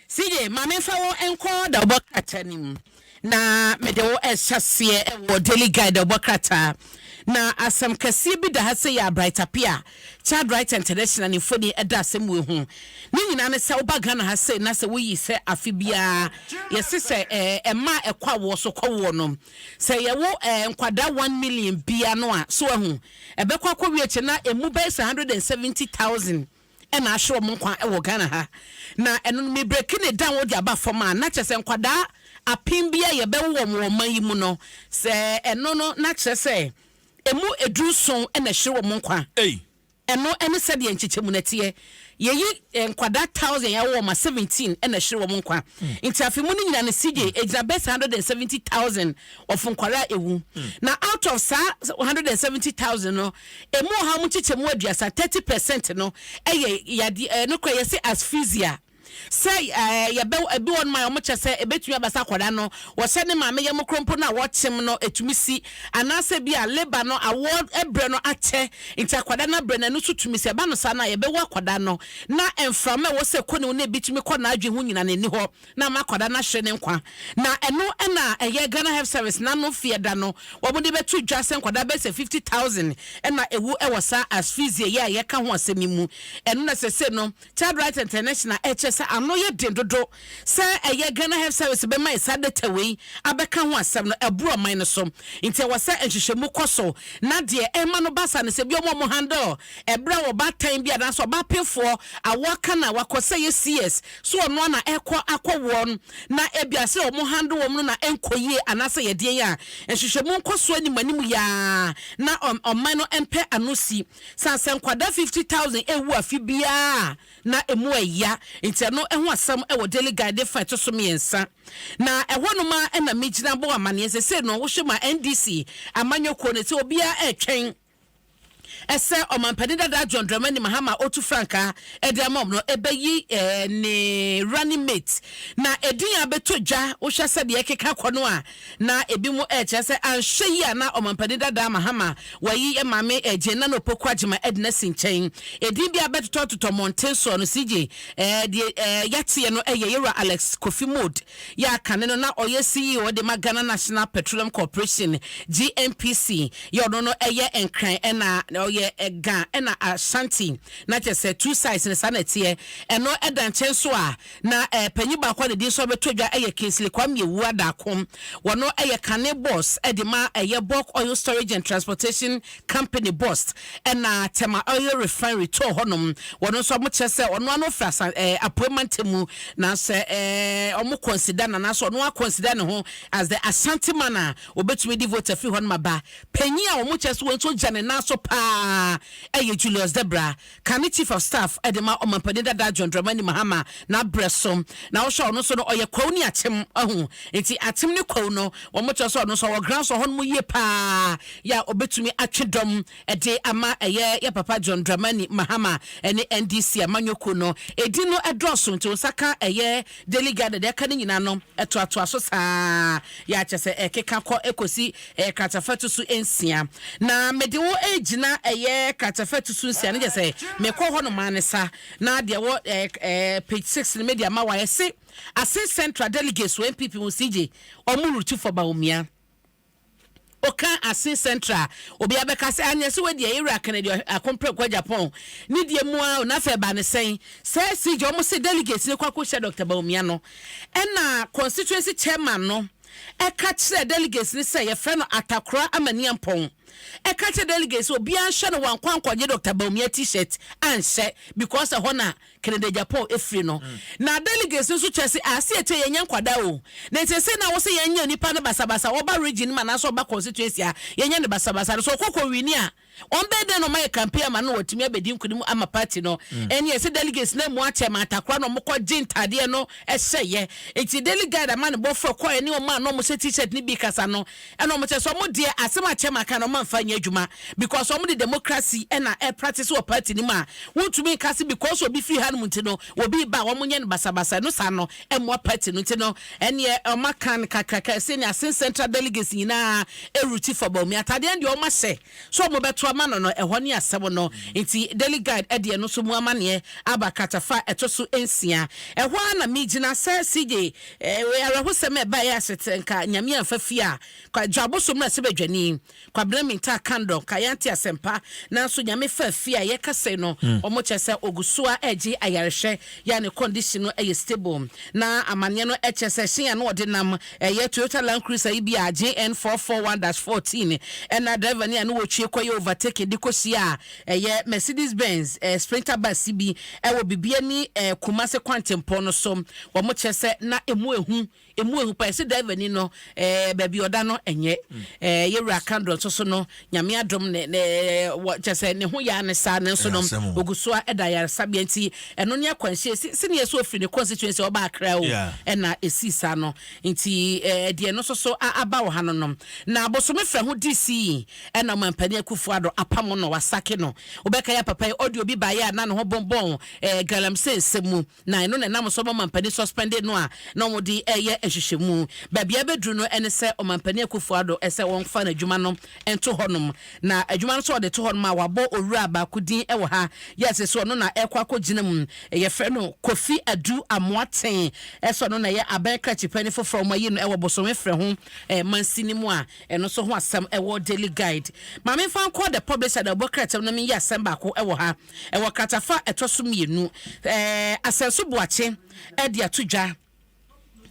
Se ye, ma menfa wo nkɔ dawubɔ krataa no mu, na mede wo rehyɛ aseɛ wɔ Daily Guide dawubɔ krataa. Na asem kɛseɛ bi da ha sei a Bright Appiah, Childwriter International ne mfoni da asem wei ho. Ne nyinaa ne sɛ woba Ghana ha sei na sɛ woyi sɛ afe biara yɛse sɛ mmaa a ɛkɔ awoɔ so kɔwoɔ no sɛ yɛwo nkwadaa one million bi ano a, so wahu, ɛbɛkɔ akɔwie akyire na ɛmu bɛyɛ sɛ hundred and seventy thousand. na ahwe wɔn nkwa wɔ Ghana ha, na ɛno no me breki ne down wode aba fam a, na kyerɛ sɛ nkwadaa apen bi a yɛbɛwo wɔn wɔ ɔman yi mu no, sɛ ɛno no na kyerɛ sɛ ɛmu ɛduru nson na ɛhwe wɔn nkwa. Ei! Ɛno ne sɛdeɛ nkyekyɛmu no teɛ. Yɛyi nkwadaa thousand yɛawo wɔn a, seventeen na ɛhwe wɔn nkwa. Nti afe mu no nyina no CJ, ɛgyina bɛsi hundred and seventy thousand of nkwadaa a ɛwu. Na out of saa hundred and seventy thousand no, Emu ɔhaw mu nkyekyɛmu aduasa, thirty percent, no yɛ yadeɛ, ɛɛ, nokorɛ yɛse asphyxia, sɛ, ɛɛ, yɛbɛ, ebi wɔnom a wɔkyɛ sɛ ɛbɛtumi aba sɛ akwadaa no wɔhyɛ ne maame yam koro mpo no a wɔkyem no ɛtumi si, anaasɛ bi a labour no awoɔ berɛ no akyɛ nti akwadaa no abrɛ no ɛno nso tumi si, ɛba no saa no a yɛbɛwo akwadaa no na mframa ɛwɔ sɛ ɛkɔ ne mu no ebitumi kɔ n'adwene ho nyina no ɛni hɔ. na ama akwadaa no ahwere ne nkwa. Na ɛno na ɛyɛ Ghana Health Service n'ano feɛ da no a wɔde bɛto dwa sɛ nkwadaa bɛyɛ sɛ fifty thousand na ɛwu wɔ saa asphyxia yi a yɛka ho asɛm yi mu. Ɛno na sese no Child Rights International ɛkyerɛ sɛ ano yɛ den dodo sɛ ɛyɛ Ghana Health Service bɛma yɛ saa data wei abɛka ho asɛm no. Ɛboro ɔman no so nti ɛwɔ sɛ nhwehwɛmu kɔ so na deɛ ɛma no ba saa no sɛ bi wɔn a wɔhandle ɛberɛ a ɔbaatan bi anaasɛ ɔbapenfoɔ a waka no a wakɔ sɛ yɛ CS So ɔno ara na ɛkɔ akɔ wɔn na ebia sɛ wɔn handle wɔn no na ɛnkɔ yie anaasɛ yɛ deɛn a? Nhwehwɛmu nkɔsoɔ nim anim yi ara na ɔman no mpɛ ano si. Saa sɛ nkwadaa fifty thousand ɛrewu afe biara a na ɛmu ɛya nti ɛno ho asɛm wɔ Daily Guide de fa ɛto so mmiɛnsa na ɛhɔ nom ara na megyina bɔ amaneɛ. Sesei no wohwɛ ma NDC amanyɔkuo no sɛ obiara ɛretwɛn sɛ ɔmampanin dadaa John Dramani Mahama otu frankaa de ama wɔn no bɛyi eh, ne running mate na edin a bɛtɔ dwa wohwɛ sɛ deɛ ɛkeka kɔ no a na ebi mo ɛkyerɛ sɛ anhwɛ yi a na ɔmampanin dadaa Mahama wayi eh, maame eh, Jane Nana Opoku Agyema eh, de no asi nkyɛn edin bi a bɛtotɔtotɔ mmɔnten soɔ no CJ eh, deɛ eh, yɛateɛ no eh, yɛ yɛwura Alex Kofi Mode yɛ a kane no na ɔyɛ CEO de ma Ghana National Petroleum Corporation, GNPC, yɛ ɔno no yɛ Nkran ɛna ɔyɛ Ga ɛna Ashanti na kyɛ sɛ two sides no saa na ɛteɛ. Ɛno da nkyɛn nso a, na panyin baako a ne din nso abɛtɔ dwa yɛ Kingsley Kwame Awuah Darko. Ɔno yɛ kane boss de ma ɛyɛ Bulk Oil Storage and Transportation company bost ɛna tɛma oil refinery too hɔ nom wɔn nso ɔmo kyerɛ sɛ ɔno ano fɛ asan ɛɛ eh, apoe mante mu na sɛ ɛɛ eh, ɔmo consider na na sɛ ɔno akɔnsida ne ho as the asante man a obetumi di vote afi hɔ no ma ba panyin a ɔmo kyerɛ sɛ wɔn nso gya ne nan so paa ɛyɛ julius debra Kane Chief of Staff de ma Ɔmanpanin dada John Dramani Mahama n'abrɛ so. Na wohwɛ ɔno nso no ɔyɛ Kwawu ne Akyem ahu. Nti Akyem ne Kwawu no wɔn kyerɛ sɛ ɔno nso ɔwɔ grounds wɔ hɔnom yie paa yɛ a ɔbɛtumi atwe dɔm de ama ɛyɛ yɛ papa John Dramani Mahama ne NDC amanyɔkuo no. Edin no dɔɔso nti wo nsa ka ɛyɛ Daily Garden deɛ ɛka no nyinaa no toatoa so saa ara, kyerɛ sɛ ɛkeka kɔ kɔsi kratafɛto su nsia. Na mede wo regyina ɛyɛ kratafɛto su nsia no, kyerɛ sɛ mekɔ hɔ nom ara ne sa. Na deɛ ɛwɔ page six no mede ama wo a, ɛse Asin Central Delegates wɔ NPP mu CJ Ɔmuru Tufo Bawumia. Oka Asin Central a, obiara bɛka sɛ, Anyɛ sɛ wadi ayeru aka no deɛ ako mprɛko agya pɔn. Ne deɛ mu ara o, na afei ɛbaa no sɛn? Sɛ CJ, wɔn se delegates no kɔ akɔhyia Doctor Bawumia no, ɛna constituency chairman no ɛka kyerɛɛ delegates no sɛ yɛfrɛ no Atakora Amaniampɔn. Ɛka kyerɛɛ delegates sɛ obiara nhwɛ no wankɔ ankɔgye Doctor Bawumia T-shirt anhyɛ because ɛhɔ na Canada gya Paul firi no. Na delegates no nso kyerɛ se a se akyire yɛnyɛ nkwadaa o. Na nti ɛsɛ na wɔsɛ yɛnyɛ nipa no basabasa ɔba region no mu anaasɛ ɔba constituency a yɛnyɛ no basabasa no. Sɛ ɔkɔ kɔ wini a ɔmbɛyɛ dɛn na ɔmayɛ campaign ama no na watumi abɛdi nkunim ama party no. Ɛne ɛsɛ delegates no amu akyɛ ma atakora na ɔmo kɔ gye ntaadeɛ no hyɛyɛ. Nti daily guide ama ne bɔfoɔ ɛkɔɔɛ ne ɔmo a na ɔmo hyɛ t-shirt no bi kasa no Ɛna ɔmo kyerɛ sɛ ɔmo deɛ asɛm a chairman ka no ɔmo anfa anyɛ adwuma because ɔmo de democracy ɛna ɛpractice wɔ party no mu a wontumi nka se because obi firi hanom nti no obi reba a ɔmo nyɛ no basabasa ɛno saa no ɛmmoa party no nti no ɛneɛ ɔmo aka no kakraka ɛsɛ nea Asin central delegates nyinaa ɛruti for Bawumia atadeɛ no deɛ ɔmo ahyɛ So ɔmo bɛto ama no no, ɛhɔ ne asɛm no. Nti Daily Guide ɛde ɛno nso mu amaneɛ aba kratafa a ɛto so nsia. Ɛhɔ ara na megyina sɛ CJ eh, awerɛhosɛm a ɛbaeɛ aset nka Nyame amfa fie a, kwa dwa aboso mmra sɛ badwani, Kwabena Mintah Kandor nka yɛante asɛmpa, nanso Nyame faa fie a yɛka sei no, mm. ɔmo kyerɛ sɛ ɔgu so a ɛregye ayarehwɛ yɛ a ne condition no ɛyɛ stable, na amaneɛ no ɛkyerɛ sɛ ɛhyɛn a na ɔde nam Ɛyɛ Toyota Land Cruiser yi bi a JN four four one dash fourteen ɛna driver ne a ne wɔtwie kɔyɛ overtaking de kɔhyia a ɛyɛ Mercedes Benz Sprinter bus bi wɔ Bibiani Kumasi kwantempɔn no so. Wɔn kyerɛ sɛ na ɛmu ɛhu, ɛmu ɛhu paa, ɛse driver ni no baabi ɔda no ɛnyɛ yɛwura Kandor nso so no. nyame adom ne ne wɔ kyɛ sɛ ne ho yɛ ane saa nanso nom ogu so a ɛda yaresabea nti ɛno ne akwanhyia si si neɛ so ofiri ne constituency ɔba akra o ɛna esi saa no nti ɛɛ deɛ no soso a aba wɔ ha no nom na bosome fɛ ho di si ɛna ɔman panyin akufo ado apamo no wasake no obɛka ya papa yi ɔde obi baayɛ a na ne ho bɔnbɔn ɛɛ galamsey nsɛm mu Na ɛno na ɛnam so ma ɔmampanin suspended no a na wɔde reyɛ nhwehwɛmu. Baabi a abɛduru no ne sɛ ɔmampanin Akuffo Addo sɛ wɔmfa n'adwuma no nto hɔnom. Na adwuma no nso a wɔde to hɔ nom a wɔabɔ owura baako din wɔ ha, yes, sɛ ɔno na ɛrekɔ akɔgyina mu. Wɔfrɛ no Kofi Adu Amoateng. Sɛ ɔno na ɛyɛ abɛn krakye panin foforɔ a wɔayi no wɔ bosome frɛ ho mansin no mu a, ɛno nso ho asɛm wɔ Daily Guide. Ma memfa nkɔ The Publisher na wɔbɔ kratam na menyi asɛm baako wɔ ha. Ɛwɔ kratafa a ɛtɔ so mmienu a Asɛnso Boakye de ato dwa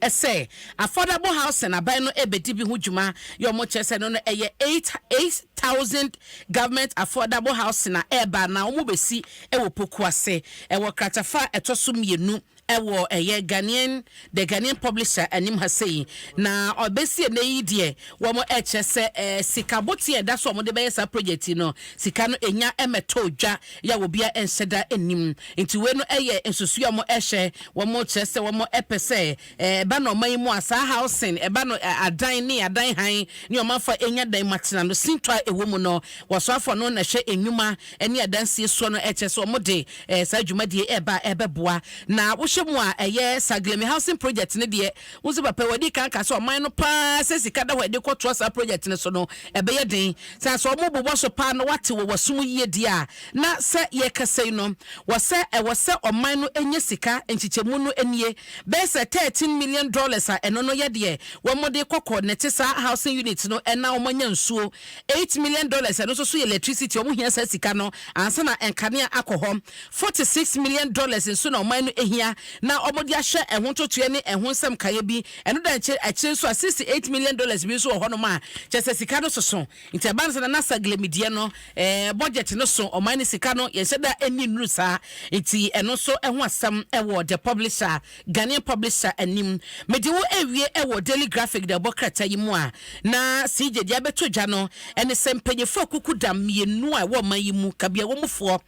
sɛ Affordable Housing aban no rebɛdi bi ho dwuma yɛ wɔn kyerɛ sɛ no no ɛyɛ eight eight thousand Government Affordable Housing a ɛreba anaa wɔbɛsi wɔ Pokuase. Ɛwɔ kratafa a ɛtɔ so mmienu ɛwɔ ɛyɛ Ghanaian The Ghanaian Publisher anim ha sei, na ɔbɛsi ɛnɛ yi deɛ wɔn ɛkyerɛ sɛ ɛɛ sika boteɛ a ɛda so a wɔn de bɛyɛ saa project yi no sika no ɛnya ɛmɛtɔ dwa yɛ a obia ɛnhyɛ da ɛnim nti wei no ɛyɛ nsusuɛ a wɔn ɛhyɛ wɔn kyerɛ sɛ wɔn ɛpɛ sɛ ɛɛ ɛba na ɔman yi mu a saa housing ɛba no ɛɛ adan ne adan hann ne wɔn afa ɛnya dan mu atena no sintɔ a ɛwɔ mu no wɔsoafɔ no na ɛhwɛ ɛnwuma ɛne adansie soɔ no ɛkyerɛ sɛ wɔn de Eh, saa dwumadie ɛreba a ɛbɛboa na wohwɛ mu a ɛyɛ Saglemi housing project no deɛ wo nso papa wadi kan ka sɛ ɔman no paa sɛ sika da hɔ ɛde kɔtoa saa project no so no ɛbɛyɛ den sɛ sɛ ɔmo bobɔ so paa na wate wɔ wasom yie deɛ a na sɛ yɛkasa yi no wɔ sɛ ɛwɔ sɛ ɔman no ɛnyɛ sika nkyekyɛmu no nie bɛyɛ sɛ 13 million dollars a ɛno no yɛ deɛ wɔn de kɔkɔ nɛte saa housing unit no ɛna wɔn anya nsuo Eight million dollars ɛno nso so yɛ electricity wɔn hia saa sika no ansa na nkanea akɔ hɔ. Forty six million dollars nso na ɔman no hia na wɔde ahwɛ ɛho ntotoɛ ne ɛho nsɛm nkaeɛ bi. Ɛno da nkyɛ akyire nso a sixty eight million dollars bi nso wɔ hɔnom a kyerɛ sɛ sika no soso. Nti ɛba no sɛ Nana Saglemi deɛ no eh, budget no so ɔman no sika no yɛnhyɛ da nni nnuru saa. Nti ɛno nso ho asɛm wɔ The Publisher. Ghanaian publisher anim. Mede wo rewie wɔ Daily Graphic na ɛbɔ krataa yi mu a, na CJ deɛ abɛtɔ dwa no ne sɛ mpanyinfoɔ akukudam mmienu a ɛwɔ ɔman yi mu, kabea wɔ mu foɔ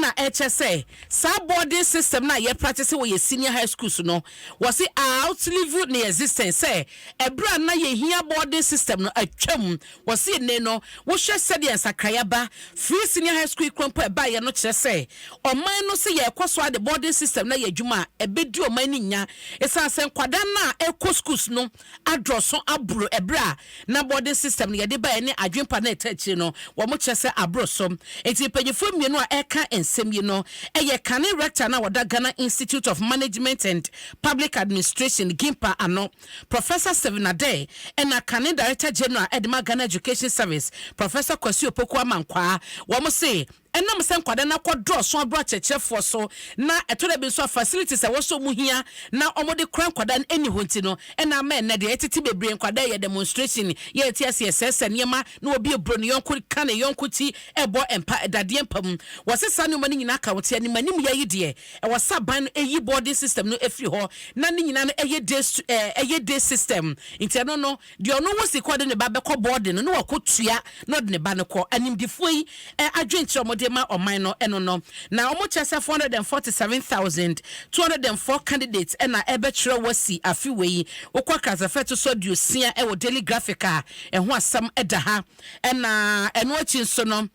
na ɛrekyɛ sɛ saa boarding system no a yɛ practice wɔ yɛ senior high schools no, wɔse outlived ne existence sɛ ɛberɛ a na yɛhia boarding system no atwam Wɔse ene no wohwɛ sɛdeɛ nsakrae aba firi senior high school kura mpo a ɛbaeɛ no kyerɛ sɛ ɔman no se yɛrekɔ so ara de boarding system no ayɛ adwuma a ɛbɛdi ɔman no nya esiane sɛ nkwadaa no a ɛrekɔ schools no adɔso aboro ɛberɛ a na boarding system no yɛde baeɛ ne adwempa no a ɛtaa akyire no wɔn kyerɛ sɛ aboro so nti mpanyifoɔ mmienu a ɛreka nsɛm yi no yɛ kane rector no a ɔda Ghana Institute of Management and Public Administration, GIMPA, ano. Professor Stephen Adeh na kane Director General de ma Ghana Education Service, Professor Kwasi Opoku Amankwaa. Wɔn se, ɛnam sɛ nkwadaa no akɔdɔɔso abrɛ akyerɛkyerɛfoɔ so na ɛtɔ da bi nso a facilities a ɛwɔ sɛ wɔn hia na wɔde kora nkwadaa no nni hɔ nti no na ama ɛnnɛ deɛ ɛtete bebree nkwadaa yɛ demonstration, yɛ nte ase, yɛ sɛɛsɛɛ nneɛma na obi reboro ne yɔnko, ka ne yɔnko ti, rebɔ mpa, dadeɛ mpa mu. Wɔse saa nneɛma no nyinaa ka wɔn te animanimyɛ yi deɛ. Ɛwɔ sɛ aban no yi boarding system no firi hɔ na ne nyinaa no yɛ day stu ɛɛ yɛ day system. Nti ɛno no, deɛ ɔno wɔ sika a ɔde ne ba bɛkɔ boarding no na wakɔtua na ɔde ne ba no kɔ. Animdefoɔ yi adwenkyerɛ a wɔde rema ɔman no ɛno no. Na wɔkyerɛ sɛ four hundred and forty seven thousand two hundred and four candidates na ɛrebɛtwerɛ wɔasi afe wei yi. Wokɔ akransafo a ɛto so aduosia wɔ Daily Graphic a, ɛho asɛm da ha. Ɛna ɛno akyi nso no.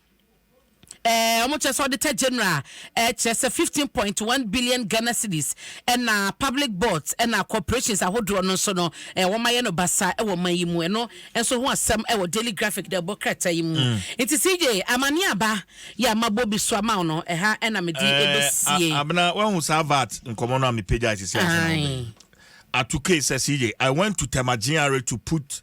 Ɛɛ, wɔkyerɛ sɛ auditor general ɛɛ kyerɛ sɛ fifteen point one billion Ghana cedis ɛna public boards ɛna corporations ahodoɔ no nso no ɛɛ wɔayɛ no basaa ɛwɔ ɔman yi mu. Ɛno nso ho asɛm ɛwɔ Daily Graphic deɛ ɛbɔ krataa yi mu. Nti CJ, amaneɛ aba yɛ a mabɔ bi so ama wo no, ɛha ɛna mede ɛbɛsie. Ɛɛ, Abena, woahu saa VAT nkɔmmɔ no a mepagyae sisi ansa na wobɛn? Aye. Atukei sɛ CJ, I went to Tema GRA to put